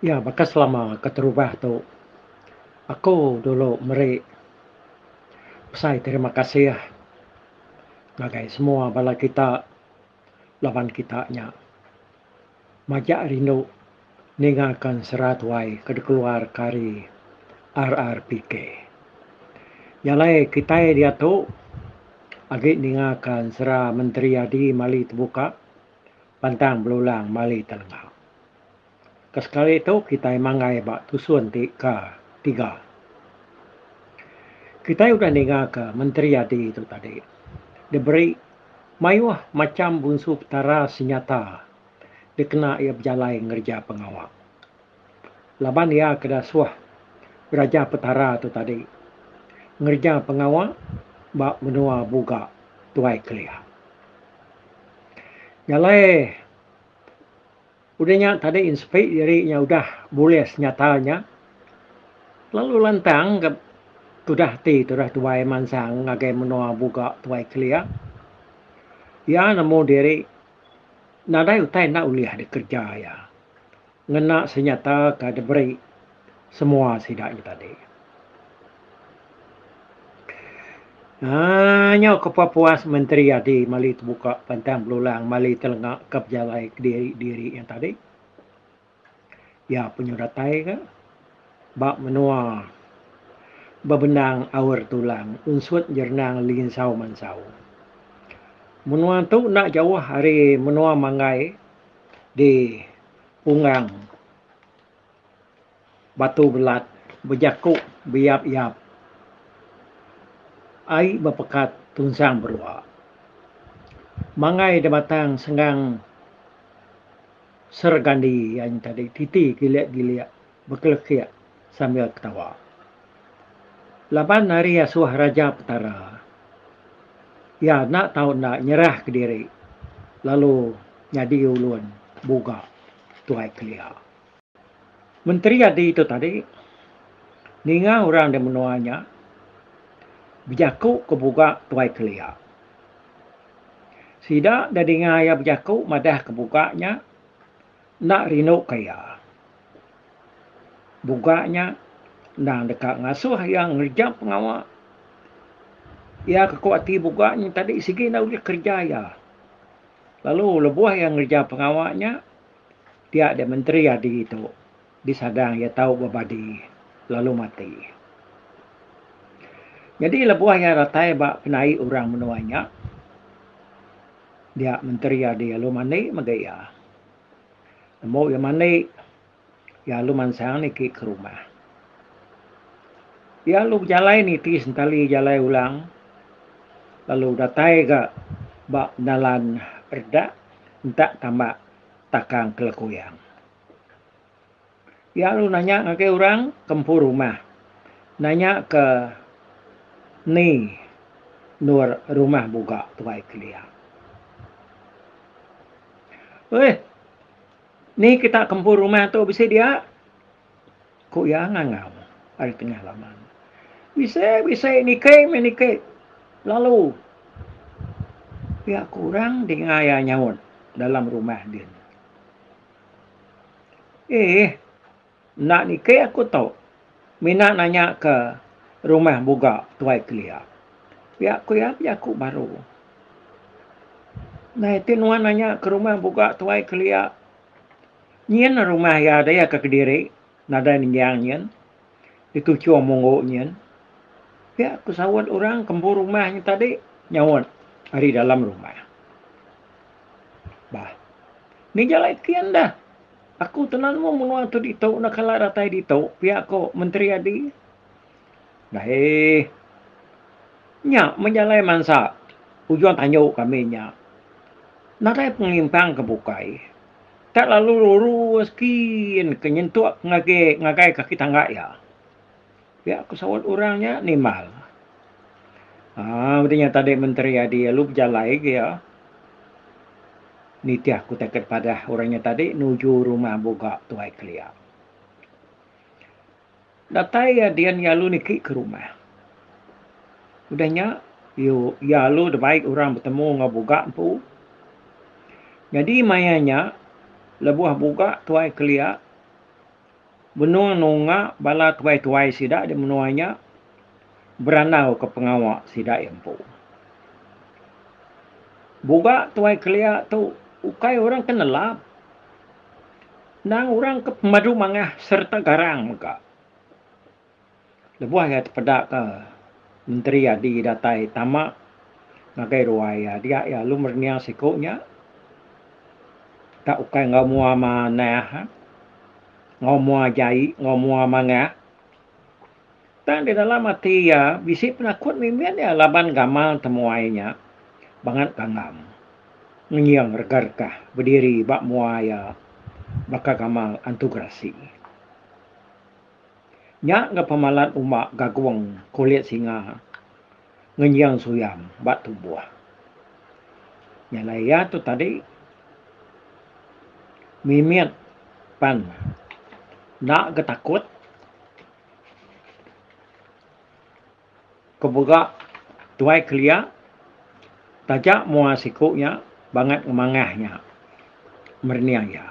Ya baka selama keterubah tu aku dulu meri besai terima kasih ngagai semua bala kita laban kita nya majak rindu ninga kan sera tuai ke dikeluar ka hari RRPK. Nya alai kitai diatu agi ninga kan sera menteri adi mali tebuka. pantang belulang mali telenga. Ke sekali tu kitai manggai ba tusun ti ke tiga. Kitai udah ninga ke Menteri Adi tu tadi diberi mayuh macham bunsu petara senyata dikena iya bejalai ngereja pengawa. laban iya ke dasuh Raja Petara tu tadi ngereja pengawa ba menua Buga Tuai Kelia. Nya alai udah nya tadi sepi diri nya udah bulis nyata nya lalu lantang ga tudah ati tudah tuai mansang ngagai menua Buga Tuai Kelia. Iya nemu diri nadai utai enda ulih dikereja iya. ngena senyata ke diberi semua sida nya tadi. Aaa nyo ke pa puas menteri adi mali tebuka pantang belulang mali telenga ke pejalai kediri-diri nya tadi. Iya penyu datai ka ba menua bebendang aur tulang unsut jerenang linsau mansau. Menua tu enda jauh ari menua manggai di Pungang, Batu Belat bejaku beyap-yap ai bepekat tunsang berua. Mangai da batang senggang sergandi iya nya tadi titi gilik-gilik. bekelekik sambil ketawa. Laban ari asuh Raja Petara, iya enda tau enda nyerahka diri lalu nyadi ulun buga Tuai Kelia. Menteri Adi tu tadi ninga orang di menua nya bejaku ke buga Tuai Kelia. Sida da dinga iya bejaku madahka buga nya, Enda rindu ka iya. Buga nya, endang deka ngasuh iya ngereja pengawa. Iya ke ku ati buga nya tadi sigi enda ulih kereja iya. Lalu lebuh iya ngereja pengawa nya, dia deh menteri adi tu disadang iya tau bebadi lalu mati. Nyadi lebuh iya datai ba penai orang menua nya, dia menteri adi lalu mandi mega iya. Nemu iya mandi, iya alu mansang niki ke rumah. Iya alu bejalai niti sentali jalai ulang lalu datai ga ba dalan redak entak tambak takang ke lekuyang. Iya lalu nanya ngagai orang ke empu rumah. Nanya ke ni endur rumah buga tuai kelia. Uih, ni kita ke empu rumah tu bisi dia? Ku iya ngangau ari tengah laman. Bisi, bisi, niki meh niki. Lalu pia ku orang dinga iya nyaut dalam rumah din. Eeh. Enda niki aku tu. Mina nanya ke rumah buga tuai kelia. Pia ku iya pia ku baru. Nai ti nuan nanya ke rumah buga tuai kelia. Nyin rumah iya daya ke kediri nadai ninggang nyin. Di tuchung munggu nyin, pia ku saut orang kembu rumah nyin tadi nyaut ari dalam rumah. Bah, ni jalai kin dah. Aku tenan mu menua tu ditu enda kala datai ditu, pia ku Menteri Adi. Dayy, nya meh jalai mansa ujung tandu kami nya. Nadai pengimpang ke bukai. Ka lalu lurus kin ke nyentuk ngagi ngagai kaki tangga iya. Pia ku saut orang nya nimbal. Haa udah nya tadi menteri adi alu bejalai agi iya nitih ku taket padah orang nya tadi nuju rumah buga Tuai Kelia. Datai iya dian yalu niki ke rumah. Udah nya yu yalu dibai orang betemu enggau buga empu. Nyadi maya nya lebuh buga tuai kelia benung nunga bala tuai-tuai sida di menua nya berandau ke pengawa sida iya empu. Buga tuai kelia tu ukai orang ke nelap. Endang orang ke pemadu mangah sereta garang mega. Lebuh iya tepedaka Menteri Adi datai tama ngagai ruai iya dia iya alu merening siku nya enda ukai enggau mua manah enggau mua jai enggau mua mangah Tang di dalam ati iya, bisi penakut mimbit iya laban gamal temuai nya bangat kangam. Ngenying rega-regah bediri ba mua iya baka gamal antu gerasi. Nya enggau pemalat umba gagung kulit singa. ngenjing suyam ba tubuh. Nya alai iya tu tadi mimit pan enda ga takut ke buga tuai kelia taja mua siku nya bangat ngemangah nya merening iya.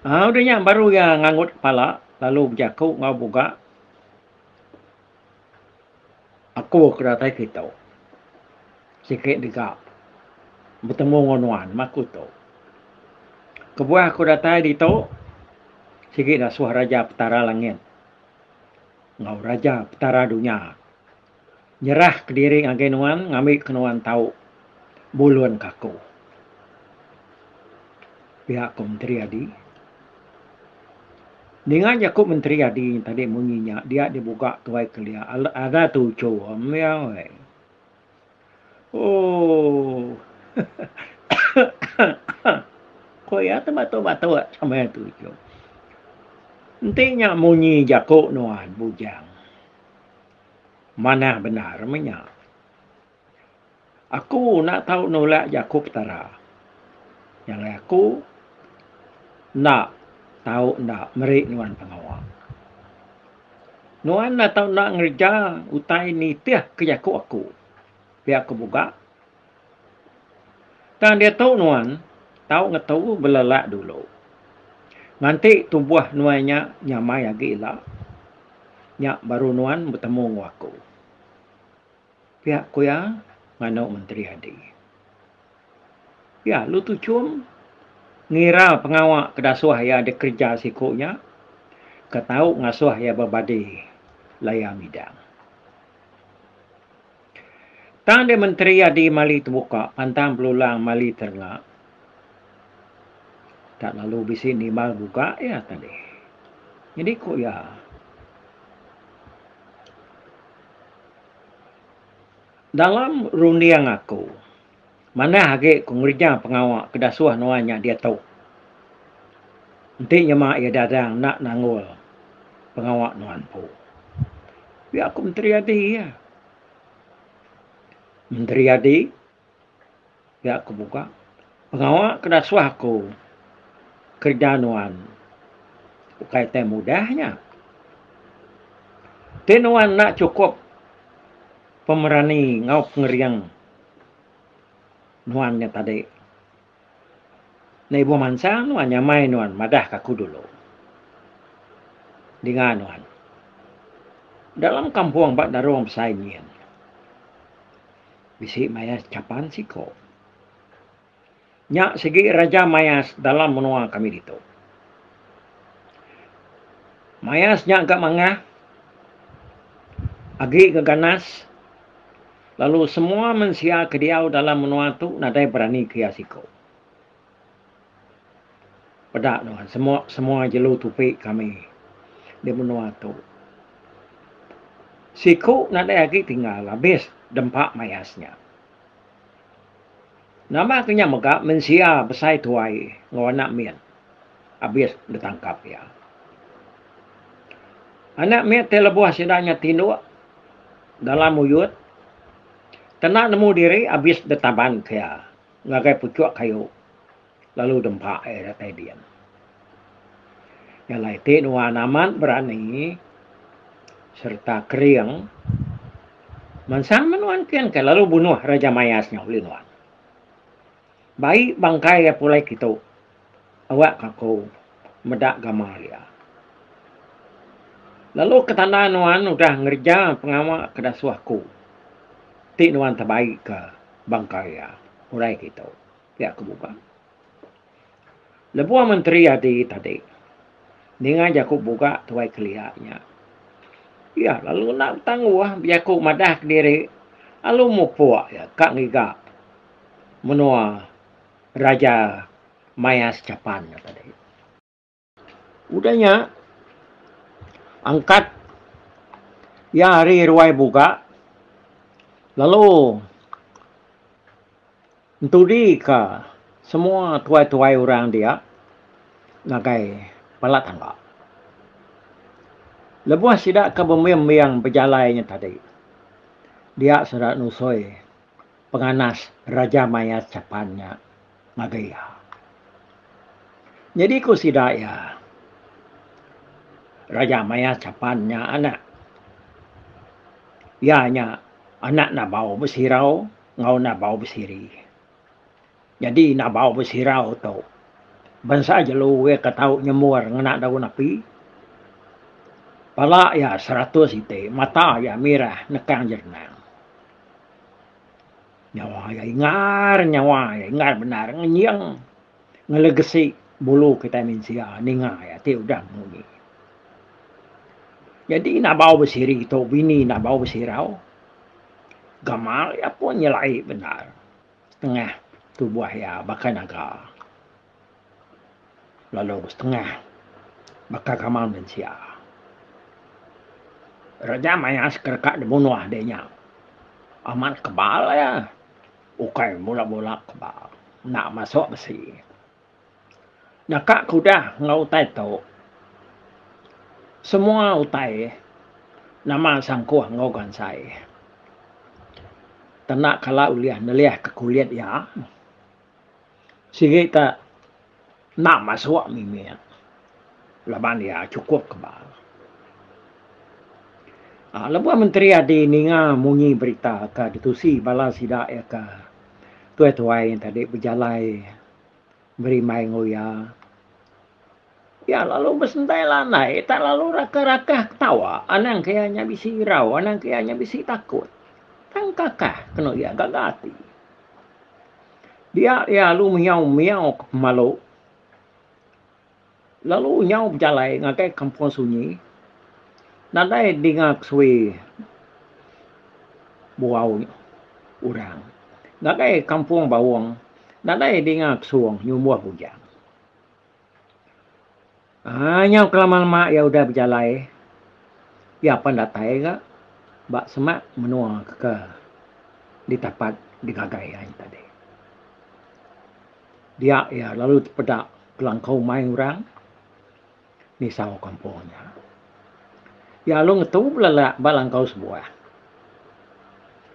Au udah nya baru iya ngangut kepala lalu bejaku enggau buga. Aku ke datai kitu siki dega betemu enggau nuan meh aku tu. Kebuah aku datai ditu sigi dasuh Raja Petara Langit enggau Raja Petara Dunya nyerah kediri ngagai nuan ngambi ke nuan tau bulun ke aku. Pia ku Menteri Adi. Ninga nyaku menteri adi tadi munyi nya dia dibuga tuai kelia alah ada tuju mia weh. Ooh. Ko iya tu batuk-batuk sama iya tuju. Enti nya munyi jaku nuan bujang. Manah bendar meh nya. Aku enda tau nulak jaku Petara. Nyadi aku enda tau enda meri nuan pengawa. Nuan enda tau enda ngereja utai nitih ke jaku aku. Pia ku Buga. Tang diatu nuan tau ngetu belelak dulu. Nganti tubuh nuan nya nyamai agi ila, nya baru nuan betemu enggau aku. Pia ku iya nganu Menteri Adi. Pia lu tu chum ngira pengawa ke dasuh iya dikereja siku nya ke tau ngasuh iya bebadi laya midang. Tang deh Menteri Adi mali tebuka pantang belulang mali terenga tak lalu bisi nimbal buga iya tah deh. Nyadi ku iya. Dalam runding aku, manah agi ku ngereja pengawa ke dasuh nuan nya diatu. Enti nyema iya dadang enda nanggul pengawa nuan empu. Pia ku Menteri Adi iya. Menteri Adi. Pia aku muka pengawa ke nasuh aku kerja nuan ukai tai mudah nya. Ti nuan enda chukup pemerani enggau pengering nuan nya tadi. Enda ibuh mansang nuan nyamai nuan madahka aku dulu. Dinga nuan. Dalam kampung ba nerong besai nyin bisi mayas chapan siko. Nya sigi raja mayas dalam menua kami ditu. Mayas nya ga mangah agi ga ganas. Lalu semua mensia ke diau dalam menua tu nadai berani ke iya siko. Peda nuan, semua semua jelu tupi kami di menua tu. Siko nadai agi tinggal abis dempa mayas nya. Nama ke nya mega mensia besai tuai enggau anak mit abis ditangkap iya. Anak mit ti lebuh sida nya tinduk dalam uyut kena nemu diri abis ditabanka iya ngagai puchuk kayu lalu dempa iya datai din. Jalai ti nuan amat berani sereta kering mansang meh nuan ken ke lalu bunuh Raja Mayas nya ulih nuan. Bai bangkai iya pulai kitu awak ka aku meda gamal iya. Lalu ke tanda nuan udah ngereja pengawa ke dasuh aku ti nuan tebai ka bangkai iya pulai kitu pia ke buka. Lebuh menteri adi tadi ninga jaku buga Tuai Kelia nya, iya lalu enda betangguh bejaku madah kediri lalu mupuk iya ka ngiga menua Raja Maya Sechapan nya tadi. Udah nya, angkat iya ari ruai buga lalu entudika semua tuai-tuai orang dia ngagai bala tangga. Lebuh sida ke bemiang-miang bejalai nya tadi, dia sida nusoi penganas Raja Maya Chapan nya. ngagai iya. Nyadi ku sida iya, Raja maya chapan nya anak. Iya nya anak Nabau Besirau enggau Nabau Besiri. Nyadi Nabau Besirau tu bansa jelu iya ke tau nyemur ngena daun api. Pala iya seratus iti, mata iya mirah nekang jerenang. Nyawa iya ingar, nyawa iya ingar bendar ngenying ngelegesi bulu kitai mensia ninga iya ti udah munyi. Nyadi enda bau besiri tu bini enda bau besirau gamal iya pun nyelai bendar setengah tubuh iya baka naga. lalu besetengah baka gamal mensia. Reja maya sekereka dibunuh diri nya amat kebal iya, ukai mula-mula kebal enda masuk besi. Nyaka ke udah enggau utai tu semua utai nama sangkuh enggau gansai tanda kala ulih nelihka kulit iya. Sigi ka enda masuk mimit laban iya chukup kebal. Lebuh menteri ati ninga munyi berita ka ditusi bala sida iya ka tuai-tuai tadi bejalai beri mai enggau iya. Iya lalu besentai lanai tak lalu rakah-rakah ketawa anang ke iya nya bisi irau anang ke iya nya bisi takut. Tang kakah kenu iya gaga ati. Dia iya lalu miyau-miyau ke pemalu lalu nyau bejalai ngagai kampung sunyi nadai dinga kesuwi buau orang. Ngagai kampung Bawong nadai dinga kesung nyumbuh bujang. Haa nyau kelama lema iya udah bejalai iya apan datai gak ba semak menua ke ditapat digagai iya nya tadi. Diya iya lalu tepeda kelangka umai orang nisau kampung iya. Iya lalu ngetu belelak ba langkau sebuah.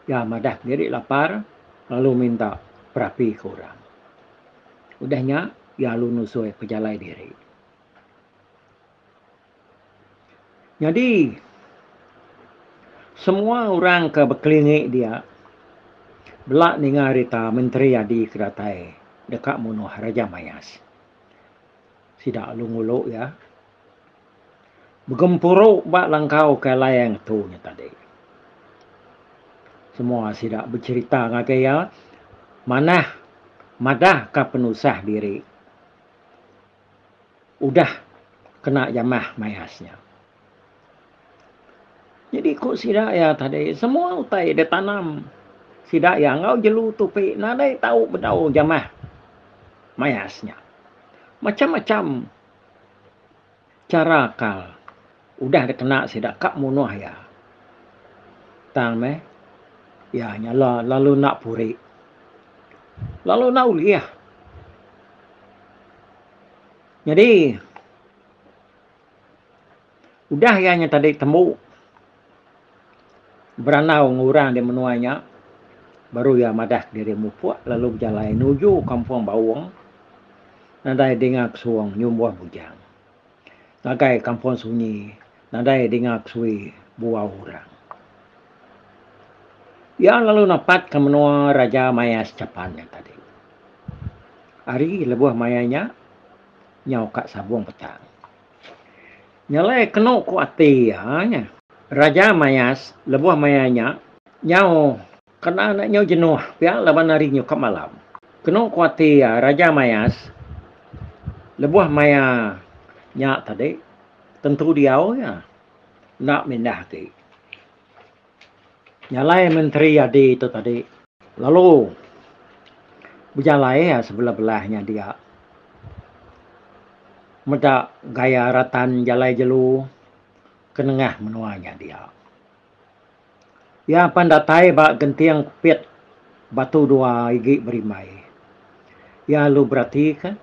Iya madah diri lapar lalu minta perapi ke orang. Udah nya, dialu nusui pejalai diri. Nyadi, semua orang ke bekelingi dia bela ninga rita Menteri Adi ke datai deka munuh Raja Mayas. Sida alu ngulu iya begempuru ba langkau ke alai ngetu nya tadi. Semua sida becherita ngagai iya manah madahka penusah diri udah kena jamah mayas nya. Nyadi ku sida iya tadi semua utai ditanam sida iya enggau jelu tupi nadai tau bedau jamah mayas nya. Macham-macham. chara akal udah dikena sida ka munuh iya tang meh iya nya lalu enda puri lalu enda ulih. Nyadi. Udah iya nya tadi tembu berandau enggau orang di menua nya, baru iya madah kediri mupuk lalu bejalai nuju kampung Baung nadai dinga kesung nyumbuh bujang. Ngagai kampung sunyi nadai dinga kesui buau orang. Iya lalu napatka menua Raja Maya Sechapan nya tadi. Ari lebuh maya nya, nyau ka Sabung Petang. Nyelai kenu ku ati iya nya. Raja mayas lebuh maya nya nyau kena enda nyau jenuh pia laban hari nyukap malam. Kenu ku ati iya Raja mayas lebuh maya nya tadi tentu diau iya enda mindah agi. Jalai menteri adi tu tadi lalu bejalai iya sebelah-belah nya dia meda gaya ratan jalai jelu ke nengah menua nya dia. Iya pan datai ba genting pit batu dua igi berimbai. Iya lalu beratika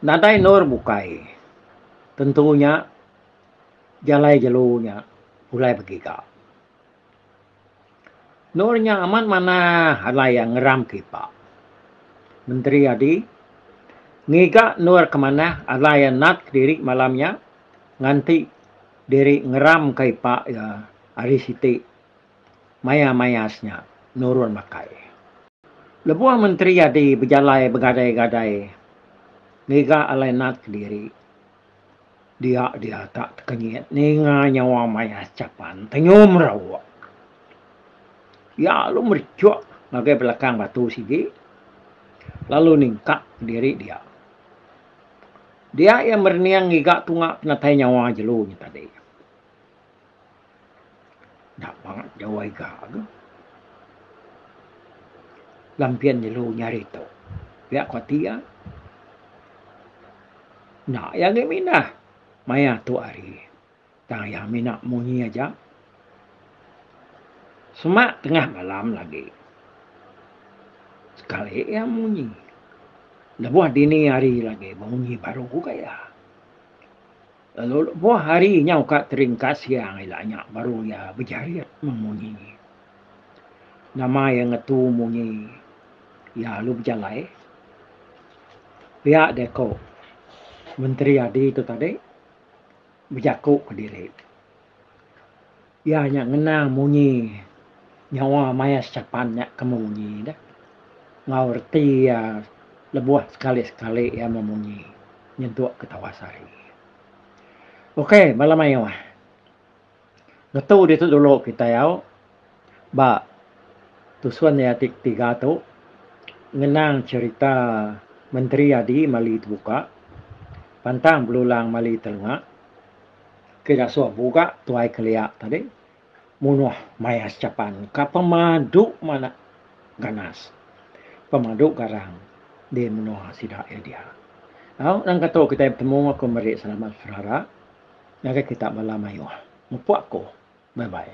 nadai endur bukai tentu nya. jalai jelu nya pulai begiga. Endur nya amat manah alai iya ngeram ke ipa. Menteri Adi ngiga endur ke manah alai iya nat kediri malam nya nganti diri ngeramka ipa iya ari siti maya-mayas nya nurun makai. Lebuh Menteri Adi bejalai begadai-gadai ngiga alai nat kediri, Dia diatak tekenyit ninga nyawa mayas chapan tenyum rauk. Iya lalu merichuk ngagai belakang batu sigi lalu ningkak diri dia. Dia iya merening ngiga tunga penatai nyawa jelu nya tadi. Enda bangat jawai ga ke. Lampian jelu nya hari tu. Pia ko ti iya. Enda iya agei mindah maya tu hari. Tang iya mina munyi aja. Semak tengah malam lagi. Sekali iya munyi. Lebuh dini hari lagi munyi baru ga iya. Lalu lebuh hari nyau ka teringkas siang ila nya baru iya bejarit meng munyi. Nama iya ngetu munyi iya lalu bejalai. Pia deh ko Menteri Adi tu tadi bejaku ke diri. Iya nya ngenang munyi nyawa maya sechapan nya ke memunyi deh enggau reti iya lebuh sekali-sekali iya memunyi nyentuk ke tawas hari. Ok bala mayuh. Ngetu ditu dulu kitai au ba tusun iya ti ketiga tu ngenang cherita Menteri Adi Mali Tebuka pantang belulang mali telenga. Ke ngasuh buga tuai kelia tadi munuh maya sechapan ka pemadu manah ganas. Pemadu garang di menua sida iya dia. Au nangka tu kitai betemu aku meri selamat saudara ngagai kita bala mayuh. Mupuk aku. Bye bye.